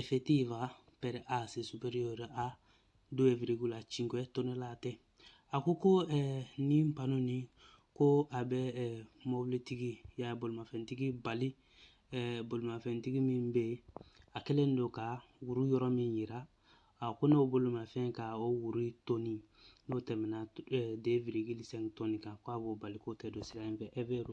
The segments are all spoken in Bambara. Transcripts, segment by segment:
effettiva per asse superiore a 2,5 tonnellate a ko ko eh, nin pano ni ko a bɛ eh, mɔbilitigi ya bolimafɛntigi bali eh, bolimafɛntigi min bɛ yen a kɛlen don ka wuru yɔrɔ min yira a ko n'o bolimafɛn ka o wuru tɔni n'o tɛmɛna 2,5 tɔni kan k'a b'o bali k'o tɛ don sira in fɛ è vero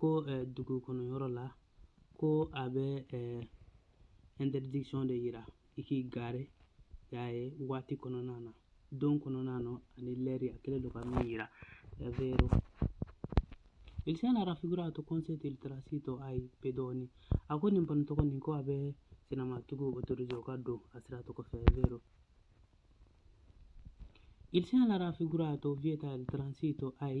ko eh, dugu kɔnɔ yɔrɔ la ko a bɛ eh, interdiction de yira i k'i gare y'a ye waati kɔnɔna na don kɔnɔna na ani lɛri a kɛlen don ka min yira è vero il segnale raffigurato consente il transito ai pedoni a ko nin pano tɔgɔ nin ko a bɛ senamatigiw autorise o ka don a sira tɔgɔ fɛ è vero il segnale raffigurato vieta il transito ai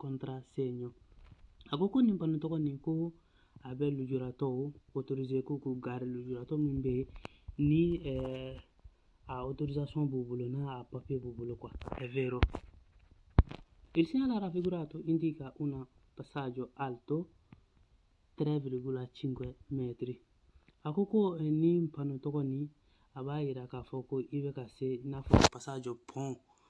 contrassegno a ko ko nin pano tɔgɔ nin ko a bɛ lujuratɔw autorise k'u gare lujuratɔ min bɛ yen ni eh, a autorisation b'u bolo n'a a papier b'u bolo quoi è vero il segnale raffigurato indica un passaggio alto 3,5 metri a ko ko eh, nin pano tɔgɔ nin a b'a yira k'a fɔ ko i bɛ ka se i n'a fɔ passaggio pont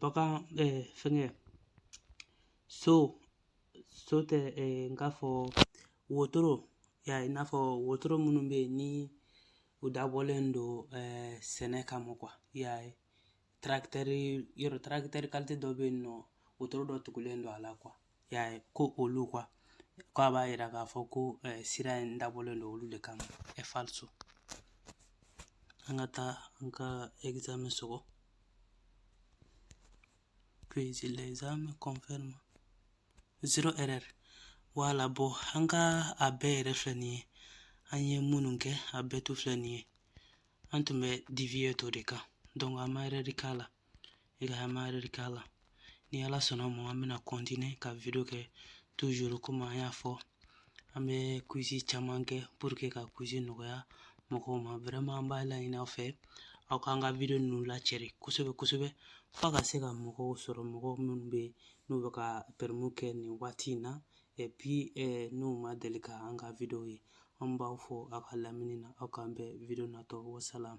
bagan fɛngɛ so so tɛ n k'a fɔ wotoro y'a ye i n'a fɔ wotoro minnu bɛ yen ni u dabɔlen don sɛnɛ kama quoi y'a ye tracteur yɛrɛ tracteur qualité dɔ bɛ yen ni wotoro dɔ tugulen don a la y'a ye ko olu quoi k'a b'a yira k'a fɔ ko eh, sira in dabɔlen don olu de kama è falso an ka taa an ka examen sɔgɔ puis l'examen confirme zero erreur voilà bon an ka a bɛɛ yɛrɛ filɛ nin ye an ye minnu kɛ a bɛɛ to filɛ nin ye an tun bɛ divieto de kan donc an ma erreur k'a la e ka an ma erreur k'a la ni ala sɔnna mɔ an bɛna continuer ka video kɛ toujours comme an y'a fɔ an bɛ quiz caman kɛ pour que ka quiz nɔgɔya mɔgɔw ma vraiment an b'a laɲini aw fɛ aw k'an ka video ninnu lacɛri kosɛbɛ kosɛbɛ f'a ka se ka mɔgɔw sɔrɔ mɔgɔ minnu bɛ n'u bɛ ka permis kɛ nin waati in na et puis eh, n'u ma deli ka an ka video ye an b'aw fo aw ka lamɛnni na aw k'an bɛn video natɔ wasalam